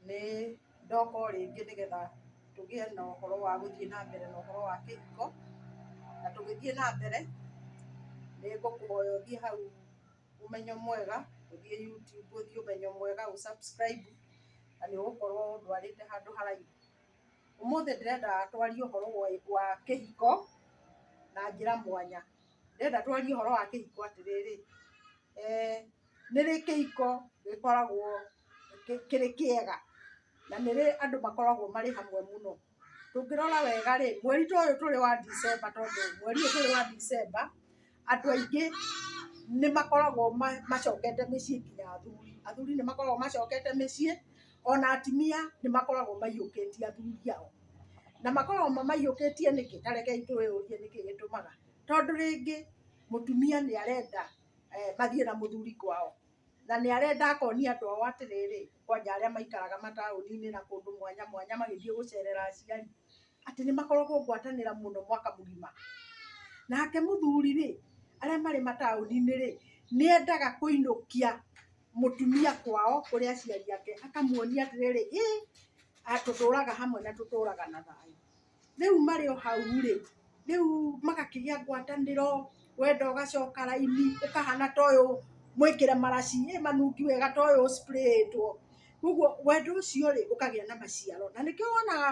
nĩ ndoka o rĩngĩ nĩgetha tũgĩe na ũhoro wa gũthiĩ na mbere na ũhoro wa kĩhiko na tũgĩthiĩ na mbere nĩ ngũkũhoya ũthiĩ hau ũmenyo mwega ũthiĩ YouTube ũthiĩ ũmenyo mwega ũ subscribe na nĩ ũgũkorwo ndwarĩte handũ haraihu ũmũthĩ ndĩrenda twarie ũhoro wa kĩhiko na njĩra mwanya Ndĩrenda twarie ũhoro wa kĩhiko atĩrĩrĩ, nĩ rĩ kĩhiko gĩkoragwo kĩrĩ kĩega na nĩ rĩ andũ makoragwo marĩ hamwe mũno? Tũngĩrora wega rĩ, mweri ta ũyũ tũrĩ wa Ndithemba tondũ mweri ũyũ tũrĩ wa Ndithemba, andũ aingĩ nĩ makoragwo macokete mĩciĩ nginya athuri. Athuri nĩ makoragwo macokete mĩciĩ. ona atumia nĩ makoragwo maiyũkĩtie athuri ao, na makoragwo mamaiyũkĩtie nĩkĩ? Ta rekei twĩyũrie nĩkĩ gĩtũmaga, tondũ rĩngĩ mũtumia nĩ arenda mathiĩ na mũthuri kwao, na nĩ arenda akonia andũ ao atĩrĩrĩ, kwanja arĩa maikaraga mataũni-inĩ na kũndũ mwanya mwanya magĩthiĩ gũcerera aciari, atĩ nĩ makoragwo ngwatanĩra mũno mwaka mũgima, nake mũthuri rĩ, arĩa marĩ mataũni-inĩ rĩ, nĩ endaga kũinũkia mũtumia kwao kũrĩ aciari ake akamuonia atĩrĩrĩ ĩ a- tũtũraga hamwe na tũtũraga na thayũ rĩu marĩ o hau rĩ rĩu magakĩgĩa ngwatanĩro wenda ũgacoka raini ũkahana ta ũyũ mwĩkĩre maraci ĩ manungi wega ta ũyũ ũcpurĩĩtwo ũguo wendo ũcio rĩ ũkagĩa na maciaro na nĩkĩo wonaga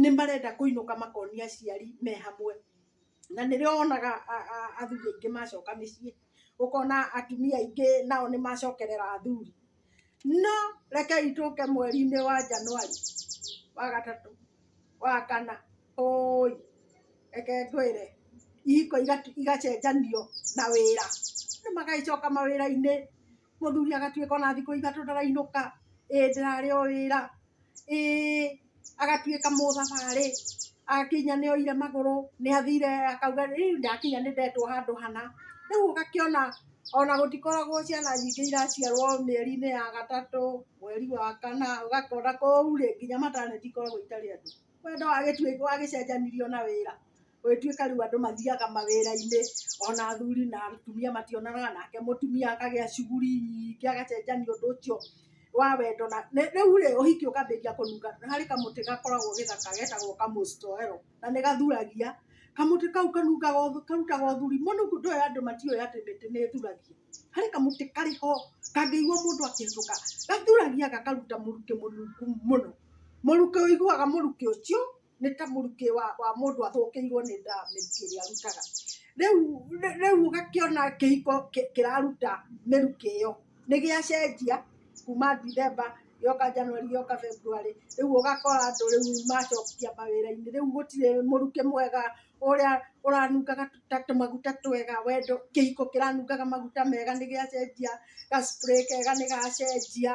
nĩ marenda kũinũka makonia aciari me hamwe, na nĩrĩo wonaga athuri aingĩ macoka mĩciĩ, ũkona atumia aingĩ nao nĩ macokerera athuri. No rekei tũke mweri-inĩ wa Januari, wa gatatũ, wa kana, ũũi, reke ngwĩre, ihiko igacenjanio na wĩra, andũ magagĩcoka mawĩra-inĩ. mũthuri agatuĩka ona thikũ ithatũ ndarainũka, ĩĩ ndĩrarĩ o wĩra, ĩĩ agatuĩka mũthabarĩ, akinya nĩ oire magũrũ, nĩ athire akauga rĩu ndakinya nĩ ndetwo handũ hana. Rĩu ũgakĩona ona gũtikoragwo ciana nyingĩ iraciarwo mĩeri-inĩ ya gatatũ, mweri wa kana, ũgakora kũu rĩ, nginya maternity ikoragwo itarĩ andũ. Wendo wagĩcenjanirio na wĩra. Gũgĩtuĩka rĩu andũ mathiaga mawĩra-inĩ, ona athuri na atumia mationanaga, nake mũtumia akagĩa shughuli nyingĩ, agacenjania ũndũ ũcio wa wendo na, rĩu rĩ, ũhiki ũkambĩrĩria kũnunga. Nĩ harĩ kamũtĩ gakoragwo gĩthaka getagwo kamũstoero, na nĩ gathuragia. Kamũtĩ kau kanungaga karutaga ũthuri mũnungu, ndũũĩ andũ matiũĩ atĩ mĩtĩ nĩ ĩthuragia. Harĩ kamũtĩ karĩ ho, kangĩigua mũndũ akĩhĩtũka, gathuragia gakaruta mũrukĩ mũnungu mũno. Mũrukĩ ũiguaga mũrukĩ ũcio, nĩ ta mũrukĩ wa wa mũndũ athũkĩirwo nĩ nda mĩrukĩ ĩrĩa arutaga. Rĩu rĩ- rĩu ũgakĩona kĩhiko kĩ- kĩraruta mĩrukĩ ĩyo nĩ gĩacenjia kuma Ndithemba gĩoka Januari gĩoka Februari, rĩu ũgakora andũ rĩu macokia mawĩra-inĩ, rĩu gũtirĩ mũrukĩ mwega ũrĩa ũranungaga ta tũmaguta twega wendo, kĩhiko kĩranungaga maguta mega nĩ gĩacenjia, ga spray kega nĩ gacenjia.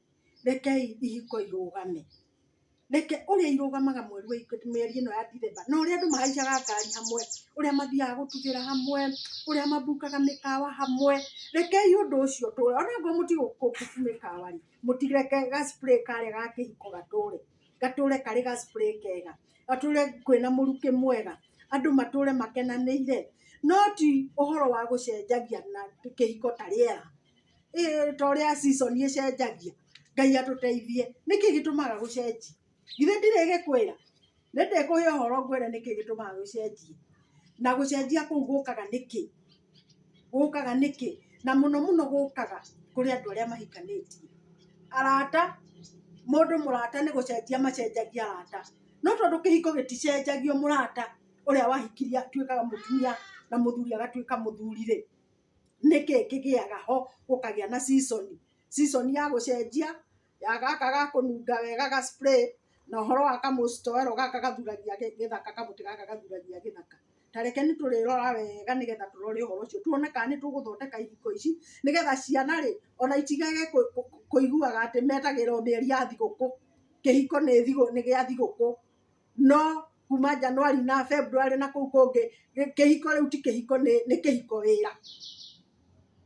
rekei ihiko irũgame. Reke ũrĩa irũgamaga mweri wa ikũmi, mĩeri ĩno ya Ndithemba, na ũrĩa andũ mahaicaga ngari hamwe, ũrĩa mathiaga gũtugĩra hamwe, ũrĩa mabukaga mĩkawa hamwe, rekei ũndũ ũcio ũtũũre. O na okorwo mũtigũbuku mĩkawa rĩ, mũtireke ga spray karĩa ga kĩhiko gatũũre. Gatũũre karĩ ga spray kega. Gatũũre kwĩna mũrukĩ mwega. Andũ matũũre makenanĩire. No ti ũhoro wa gũcenjagia na kĩhiko ta rĩera. ĩĩ ta ũrĩa season ĩcenjagia Ngai atũteithie nĩkĩ gĩtũmaga gũcenjie githĩ ndirĩ gĩkwĩra nĩndĩkũhe ũhoro ngwĩre nĩkĩ gĩtũmaga gũcenjie na gũcenjia kũu gũkaga nĩkĩ gũkaga nĩkĩ na mũno mũno gũkaga kũrĩ andũ arĩa mahikanĩtie arata mũndũ mũrata nĩ gũcenjia macenjagia arata no tondũ kĩhiko gĩticenjagio mũrata ũrĩa wahikirie atuĩkaga mũtumia na mũthuri agatuĩka mũthuri rĩ. nĩkĩ kĩgĩaga ho gũkagĩa na season, season ya gũcenjia ya gaka ga kũnunga wega ga spray na ũhoro wa ka mũcitowero gaka gathuragia gĩthaka, kamũtĩ gaka gathuragia gĩthaka. Ta reke nĩ tũrĩrora wega nĩ getha tũrore ũhoro ũcio tuone kana nĩ tũgũthondeka ihiko ici nĩ getha ciana rĩ ona itigage kũiguaga atĩ metagĩrĩrwo mĩeri ya thigũkũ, kĩhiko nĩ gĩa thigũkũ. no kuma Januari na Februari na kũu kũngĩ kĩhiko rĩu ti kĩhiko nĩ kĩhiko wĩra.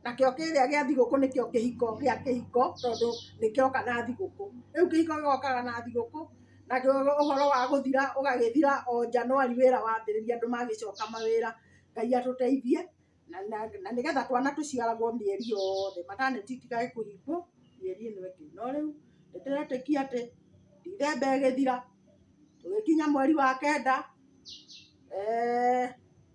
Nakĩo kĩrĩa gĩa thigũkũ nĩkĩo kĩhiko gĩa kĩhiko tondũ nĩkĩoka na thigũkũ. Rĩu kĩhiko gĩgokaga na thigũkũ na ũhoro wa gũthira ũgagĩthira o Januari wĩra wambĩrĩria andũ magĩcoka mawĩra. Ngai atũteithie. na na na nĩgetha twana tũciaragwo mĩeri yothe mataneti itikage kũhingwo mĩeri ĩno ĩngĩ no rĩu nĩtũretĩkia atĩ ndithemba ĩgĩthira tũgĩkinya mweri wa kenda eh,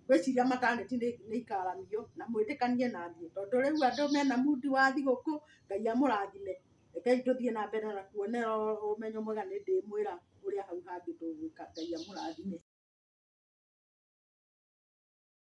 ngwĩciria mataneti nĩ nĩ ikaramio na mwĩtĩkanie na niĩ tondũ rĩu andũ mena mundi wa thigũkũ ngai amũrathime rekei tũthiĩ na mbere na kuonera ũmenyo mwega nĩ ndĩmwĩra ũrĩa hau hangĩ tũgwĩka ngai amũrathime